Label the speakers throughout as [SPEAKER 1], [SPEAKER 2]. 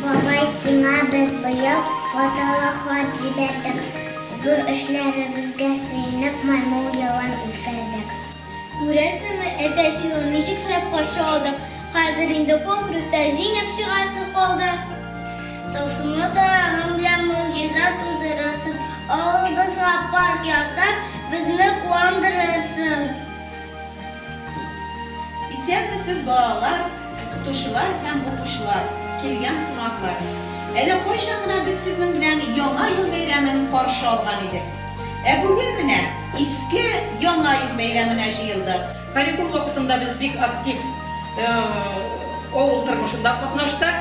[SPEAKER 1] Бабай, сиңа без быел ваталы хат җибәрдек. Зур эшләребезгә сөенеп, маймыл елын үткәрдек. Күрәсеңме, әтәч елын ничек шәп каршы алдык. Хәзер инде конкурста җиңеп чыгасы калды. Тылсымлы таягың белән могҗиза тудырырсың, авылыбызга парк ясап, безне куандырырсың. Исәнмесез, балалар, укытучылар һәм укучылар, килгән кунаклар! Әле кайчан гына без сезнең белән Яңа ел бәйрәмен каршы алган идек. Ә бүген менә Иске Яңа ел бәйрәменә җыелдык. Каникул вакытында без бик актив авыл тормышында катнаштык.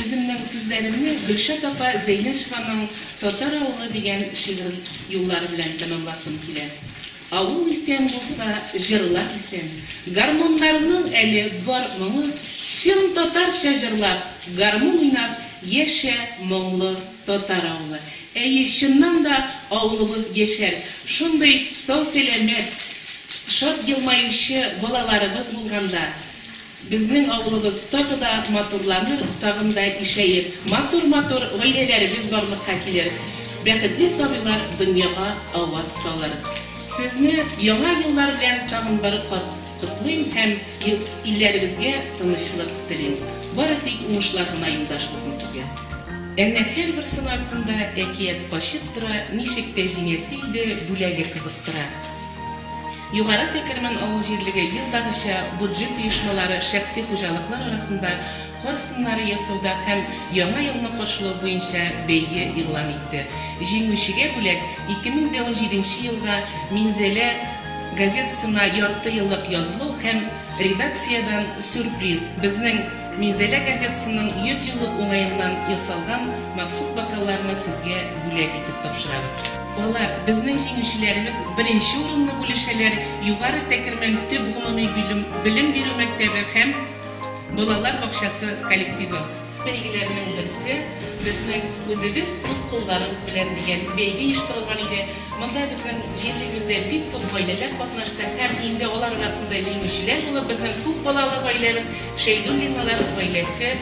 [SPEAKER 1] Үземнең сүзләремне Гөлшат апа Зәйнәшеваның Татар авылы дигән шигырен юллары белән тәмамласым килә. Ә ул исән булса, җырлар исән. Гармуннарның әле бар моңы, Чын татарча җырлап, гармун уйнап Яшә, моңлы татар авылы. Әйе, чыннан да авылыбыз яшәр, шундый сау-сәламәт, шат елмаючы балаларыбыз булганда. Безнең авылыбыз тагы да матурланыр, тагын да ишәер, матур-матур гаиләләребез барлыкка килер, бәхетле сабыйлар дөньяга аваз салыр. Сезне Яңа еллар белән тагын бер кат котлыйм һәм илләребезгә тынычлык телим. Бары тик уңышлар гына юлдаш булсын сезгә. Әнә һәрбер сын артында әкият качып тора, ничек тә җиңәсе иде, бүләге кызыктыра. Югары Тәкермән авыл җирлеге елдагыча буджет оешмалары, шәхси хуҗалыклар арасында кар сыннары ясауда һәм Яңа елны каршылау буенча бәйге игълан итте. Җиңүчегә бүләк, 2017 нче елга Минзәлә газетасына ярты еллык язылу һәм редакциядән сюрприз, безнең Минзәлә газетасының 100 еллык уңаеннан ясалган махсус бокалларны сезгә бүләк итеп тапшырабыз. Алар, безнең җиңүчеләребез, беренче урынны бүлешәләр Югары Тәкермән төп гомуми белем бирү мәктәбе һәм балалар бакчасы коллективы. Бәйгеләрнең берсе Безнең үзебез үз кулларыбыз белән дигән бәйге оештырылган иде. Монда безнең җирлегебездә бик күп гаиләләр катнашты һәм инде алар арасында җиңүчеләр булып безнең күп балалы гаиләбез Шәйдуллиналар гаиләсе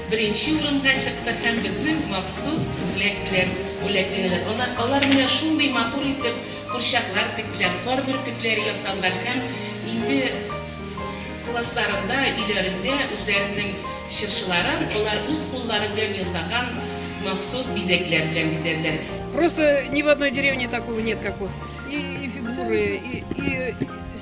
[SPEAKER 1] Беренче урынга чыкты һәм безнең махсус бүләк белән бүләкләнәләр. Ана, алар менә шундый матур итеп курчаклар тектеләр, кар бөртекләре ясадылар һәм инде классларында, өйләрендә үзләренең чыршыларын алар үз куллары белән ясаган махсус бизәкләр белән бизәделәр. Просто ни в одной деревне такого нет, как вот и фигуры, и, и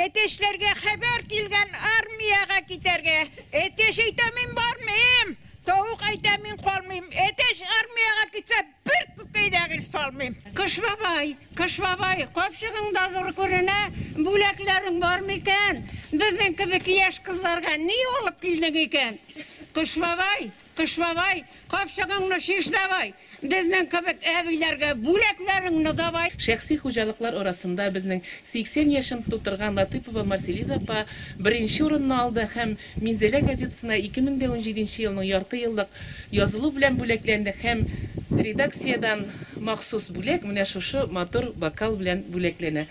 [SPEAKER 1] Әтәчләргә хәбәр килгән армиягә китәргә. Әтәч әйтә, мин бармыйм! Тавык әйтә, мин калмыйм! Әтәч армиягә китсә, бер күкәй дә гел салмыйм! Кыш бабай, Кыш бабай, капчыгың да зур күренә, бүләкләрең бармы икән? Безнең кебек яшь кызларга ни алып килдең икән? Кыш бабай, Кыш бабай, капчыгыңны чиш давай, Безнең кебек әбиләргә бүләкләреңне давай. Шәхси хуҗалыклар арасында безнең 80 яшен тутырган Латыпова Марселиза апа беренче урынны алды һәм Минзәлә газетасына 2017 елның ярты еллык язылу белән бүләкләнде һәм редакциядән махсус бүләк менә шушы матур бокал белән бүләкләнә.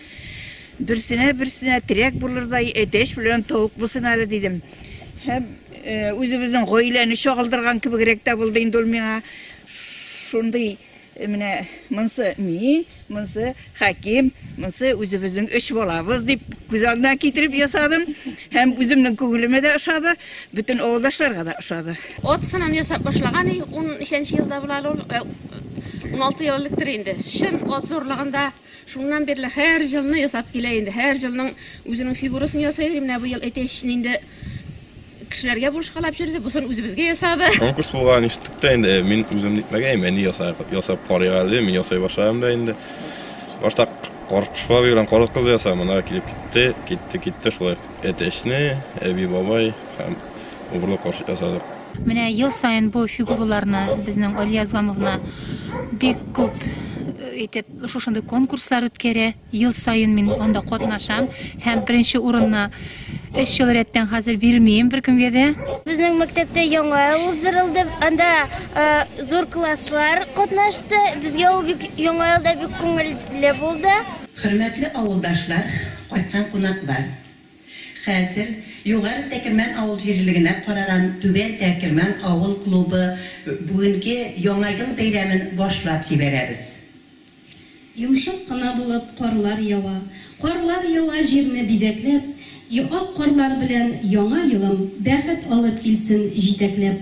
[SPEAKER 1] Берсенә берсенә терәк булырдай әтәч белән тавык булсын әле дидем. Һәм э, үзебезнең гаиләне чагылдырган кебегрәк тә булды инде ул миңа. Шундый э, менә монсы мин, монсы Хәким, монсы үзебезнең өч балабыз дип күз алдына китереп ясадым. Һәм үземнең күңелемә дә ошады, бөтен авылдашларга да ошады. От сынын ясап башлаган, 13 елда була ул. 16 ел электер инде. Чын от зурлыгында Шуннан бирле һәр җылны ясап килә инде. Һәр җылның үзенең фигурасын ясый иде. Менә быел әтәч инде кешеләргә бурычкалап җөрде, бусын үзебезгә ясады. Конкурс булган ишеттек тә инде, э, мин үзем нитмәгәем, әни ясап, ясап карыйк әле, мин ясай башладым да инде. Башта каркышпа белән кара кыз ясам, ана килеп китте, китте, китте шулай. Әтәчне, әби, бабай һәм убырлы карчык ясадык. Менә ел саен бу фигураларны безнең Алия Азгамовна бик күп итеп шушындый конкурслар үткәрә. Ел саен мин анда катнашам һәм беренче урынны 3 ел рәттән хәзер бирмим беркемгә дә. Безнең мәктәптә яңа ел уздырылды. Анда зур класслар катнашты. Безгә ул бик яңа елда бик күңелле булды. Хөрмәтле авылдашлар, кайткан кунаклар! Хәзер Югары Тәкермән авыл җирлегенә караган Түбән Тәкермән авыл клубы бүгенге Яңа ел бәйрәмен башлап җибәрәбез. Йомшак кына булып карлар ява, Карлар ява җирне бизәкләп, Ак карлар белән Яңа елым Бәхет алып килсен җитәкләп.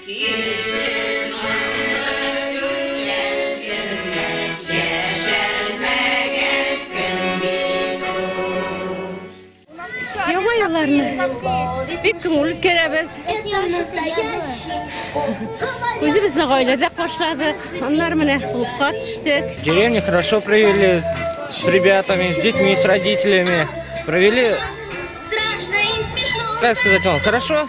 [SPEAKER 1] Килсен аңсыз күңел кемгә, Яшәлмәгән көн бит ул. Яңа елларны бик күңелле үткәрәбез. Үзебезне гаиләдә каршыладык, аннары менә клубка төштек. В деревне хорошо провели с ребятами, с детьми, с родителями. Провели, как сказать вам, хорошо.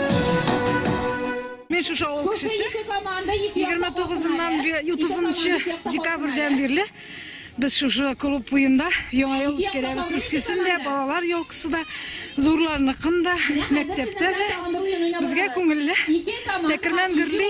[SPEAKER 1] Мин шушы авыл кешесе. 29-ннан 30-нчы декабрьдән бирле без шушы клуб буенда яңа ел үткәрәбез. Искесен дә, балалар елкысы да, зурларныкын да, мәктәптә дә. Безгә күңелле. Тәкермән гөрли.